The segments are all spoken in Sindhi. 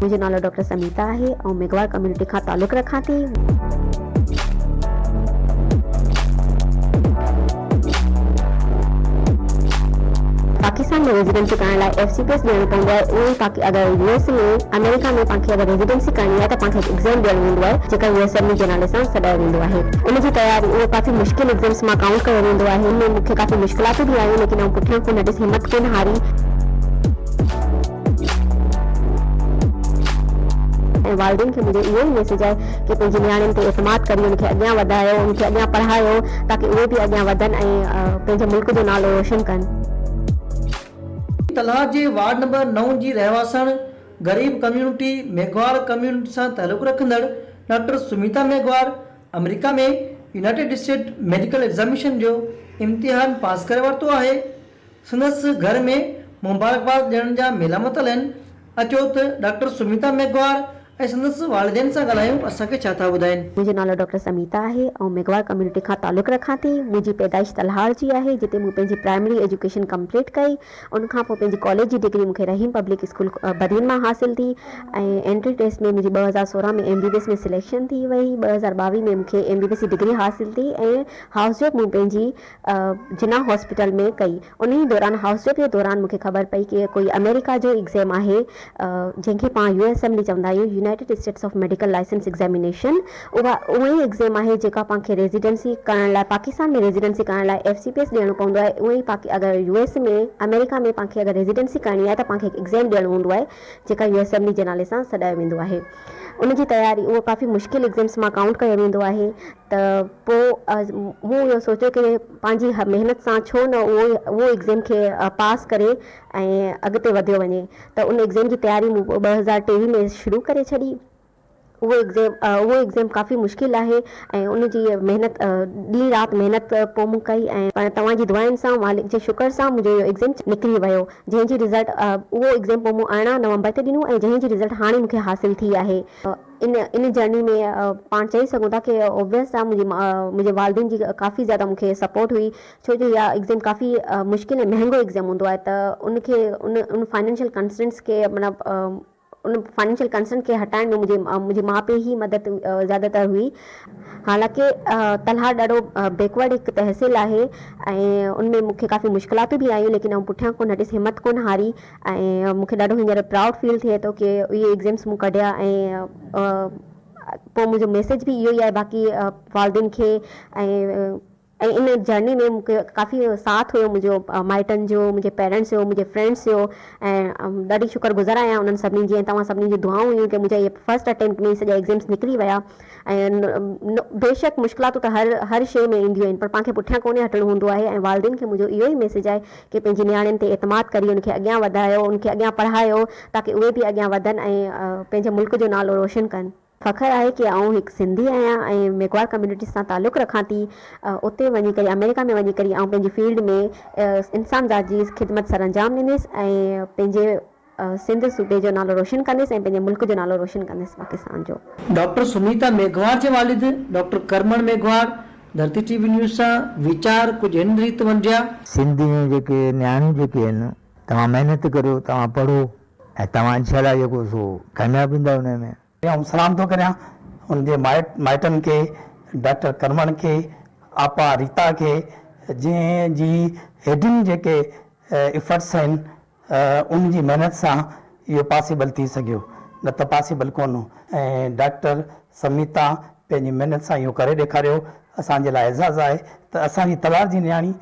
منهنجو نالو ڊاڪٽر سميتا آهي آئون ميگهواڙ ڪميونٽي کان تعلق رکان ٿي. پاڪستان ۾ ريزيڊنسي ڪرائڻ لاء ايف سي پي ايس ڏيڻو پوندو آهي اهو ئي پاڪ اگر يو ايس ۾ آمريڪا ۾ پاڻ کي اگر ريزيڊنسي ڪرڻي آهي ته پاڻ کي هڪ ايگزيم ڏيڻو ويندو آهي جيڪا U S M A G نالي سان سڏايو ويندو آهي. ان جي تياري اهو ڪافي مشڪل ايگزمس مان ڪائونٽ ڪيو ويندو آهي ان ۾ مون کي ڪافي مشڪلاتون به آيون ليڪن آئون پٺيان ڪو نه ڏس همت ڪونه هاري ۽ والدين کي منهنجو اهو ئي ميسيج آهي ڪي پنهنجي نياڻين تي اعتماد ڪري ان کي اڳيان وڌايو ان کي اڳيان پڙهايو تاڪي اهي به اڳيان وڌن ۽ پنهنجي ملڪ جو نالو روشن ڪن. تلهار جي وارڊ نمبر نو جي رهواسڻ غريب ڪميونٽي، ميگهواڙ ڪميونٽي سان تعلق رکندڙ ڊاڪٽر سميتا ميگهواڙ آمريڪا ۾ يونائيٽيڊ اسٽيٽ ميڊيڪل ايگزاميشن جو امتحان پاس ڪري ورتو آهي. سندس گهر ۾ مبارڪباد ڏيڻ جا ميلا متل آهن. اچو ته ڊاڪٽر سميتا ميگهواڙ ۽ سندس والدين سان ڳالهايون اسان کي ڇا ٿا ٻڌائين. منهنجو نالو ڊاڪٽر سميتا آهي. آئون ميگهواڙ ڪميونٽي کان تعلق رکان ٿي. منهنجي پيدائش تلهار جي آهي جتي مون پنهنجي پرائمري ايجوڪيشن ڪمپليٽ ڪئي ۽ ان کان پوء پنهنجي ڪاليج جي ڊگري مون کي رحيم پبلڪ اسڪول بدين مان حاصل ٿي ۽ انٽري ٽيسٽ ۾ منهنجي ٻه هزار سورهن ۾ M B B S ۾ selection ٿي وئي ٻه هزار ٻاويهه ۾ مون کي ايم بي بي ايس جي ڊگري حاصل ٿي ۽ هائوس جاب مون پنهنجي جناح هاسپيٽل ۾ ڪئي انهي دوران هائوس جاب جي دوران مون کي خبر پئي ڪي ڪوئي آمريڪا جو ايگزيم آهي جنهن کي پاڻ يو ايس ايم ڊي چوندا آهيون، united states of medical license examination, اها اها ئي ايگزيم آهي جيڪا پان کي ريزيڊنسي ڪرڻ لاء پاڪستان ۾ ريزيڊنسي ڪرڻ لاء ايف سي پي ايس ڏيڻو پوندو آهي اهو ئي پاڪ اگر يو ايس ۾ آمريڪا ۾ پان کي اگر ريزيڊنسي ڪرڻي آهي ته پان کي هڪ ايگزيم ڏيڻو هوندو آهي جيڪا يو ايس ايم ڊي جي نالي سان سڏايو ويندو آهي ان جي تياري اهو ڪافي مشڪل ايگزيمس مان ڪائونٽ ڪيو ويندو آهي ته پو مون اهو سوچيو ڪي پنهنجي محنت سان ڇو نه اهو اهو ايگزيم کي پاس ڪري ۽ اڳتي وڌيو وڃي ته ان ايگزيم جي تياري مون ٻه هزار ٽيويهه ۾ شروع ڪري ڇڏي. اهو ايگزيم اهو ايگزيم ڪافي مشڪل آهي ۽ ان جي محنت ڏينهن رات محنت پوء مون ڪئي ۽ پڻ توهان جي دعائن سان مالڪ جي شڪر سان منهنجو اهو ايگزيم نڪري ويو جنهن جي رزلٽ اهو ايگزيم پوء مون ارڙهن نومبر تي ڏنو ۽ جنهن جي رزلٽ هاڻي مون کي حاصل ٿي آهي ان ان جرني ۾ پاڻ چئي سگهون ٿا ڪي اوبويس آ منهنجي منهنجي والدين جي ڪافي زياده مون کي سپورٽ هئي ڇو جو اها ايگزيم ڪافي مشڪل ۽ مهانگو ايگزيم هوندو آهي ته ان کي ان ان فائنينشل ڪنسٽرينٽس کي معنيٰ ان فائنينشل ڪنسرن کي هٽائڻ ۾ منهنجي منهنجي ماء پيء جي مدد زياده تر هئي حالانڪه تلهار ڏاڍو بيڪورڊ هڪ تحصيل آهي ۽ ان ۾ مون کي ڪافي مشڪلاتون به آيون ليڪن آئون پٺيان ڪونه هٽيس همت ڪونه هاري ۽ مون کي ڏاڍو هينئر پرائوڊ فيل ٿئي ٿو ڪي اهي ايگزيمس مون ڪڍيا ۽ پوء منهنجو ميسيج به اهو ئي آهي باقي والدين کي ۽ ۽ ان جرني ۾ مون کي ڪافي ساٿ هيو منهنجو مائٽن جو منهنجي پيرنٽس جو منهنجي فرينڊس جو ۽ ڏاڍي شڪر گذار آهيان انهن سڀني جي ۽ توهان سڀني جون دعائون هيون ڪي منهنجا اهي فرسٽ اٽيمپٽ ۾ سڄا ايگزيمس نڪري ويا ۽ بيشڪ مشڪلاتون ته هر هر شيء ۾ اينديون آهن پر پان کي پٺيان ڪونهي هٽڻو هوندو آهي ۽ والدين کي منهنجو اهو ئي ميسيج آهي ڪي پنهنجي نياڻين تي اعتماد ڪري ان کي اڳيان وڌايو ان کي اڳيان پڙهايو تاڪي اهي به اڳيان وڌن ۽ پنهنجي ملڪ جو نالو روشن ڪن فخر آهي ڪي آئون هڪ سنڌي آهيان ۽ ميگهواڙ ڪميونٽي سان تعلق رکان ٿي اتي وڃي ڪري آمريڪا ۾ وڃي ڪري آئون پنهنجي فيلڊ ۾ انسان ذات جي خدمت سرانجام ڏينديس ۽ پنهنجي سنڌ صوبي جو نالو روشن ڪنديس ۽ پنهنجي ملڪ جو نالو روشن ڪنديس پاڪستان جو. ڊاڪٽر سميتا ميگهواڙ جي والد doctor Karman Meghwar Dharti T V news سان ويچار ڪجهه هن ريت ونڊيا. سنڌ ۾ جيڪي نياڻيون جيڪي آهن توهان محنت ڪريو توهان پڙهو ۽ توهان انشاء الله جيڪو سو ڪامياب ٿيندا ان ۾. آئون سلام ٿو ڪريان ان جي مائٽن کي ڊاڪٽر ڪرمڻ کي آپا ريتا کي جنهن جي هيڊن جيڪي ايفرٽس آهن ان جي محنت سان اهو پاسيبل ٿي سگهيو نه ته پاسيبل ڪونه هو ۽ ڊاڪٽر سميتا پنهنجي محنت سان اهو ڪري ڏيکاريو اسان جي لاء اعزاز آهي ته اسان جي تلوار جي نياڻي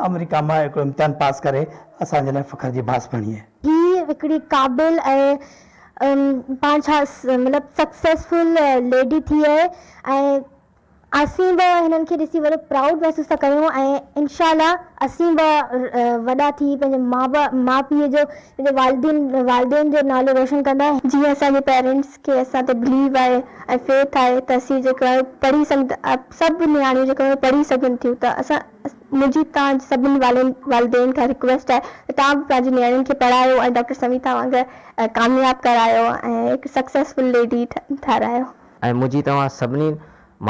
آمريڪا مان هڪڙو امتحان پاس ڪري اسان جي لاء فخر جي باعث بڻي آهي. هي هڪڙي قابل ۽ پاڻ ڇا مطلب سڪسيسفل ليڊي ٿي آهي ۽ اسين به هنن کي ڏسي وڏو پرائوڊ محسوس ٿا ڪريون ۽ انشاء الله اسين به وڏا ٿي پنهنجي ماء پيء جو پنهنجي والدين والدين جو نالو روشن ڪندا جيئن اسان جي پيرنٽس کي اسان تي بليو آهي ۽ فيٿ آهي ته اسين جيڪو آهي پڙهي سگهن ٿا سڀ نياڻيون جيڪو آهي پڙهي سگهن ٿيون ته اسان منهنجي توهان جي سڀني والين والدين کان رڪويسٽ آهي ته توهان به پنهنجي نياڻين کي پڙهايو ۽ ڊاڪٽر سميتا وانگر ڪامياب ڪرايو ۽ هڪ سڪسيسفل ليڊي ٺارايو. ۽ منهنجي توهان سڀني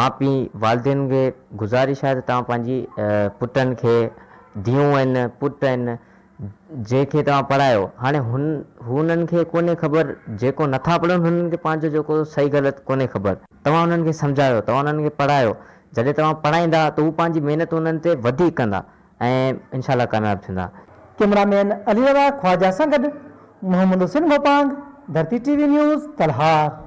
ماء پي والدين کي گذارش آهي ته توهان پنهنجي پٽن کي ڌيون آهن پٽ آهن جنهن کي توهان پڙهايو. هاڻي هن هونن کي ڪونهي خبر جيڪو نٿا پڙهن هنن کي پنهنجو جيڪو صحيح غلط ڪونهي خبر. توهان هنن کي سمجهايو توهان هنن کي پڙهايو جڏهن توهان پڙهائيندا ته هو پنهنجي محنت هنن تي وڌيڪ ڪندا ۽ انشاء الله ڪامياب ٿيندا. ڪيمرا مين علي رضا خواجه سان گڏ Muhammad Hussain Gopang, Dharti T V news, Talhar.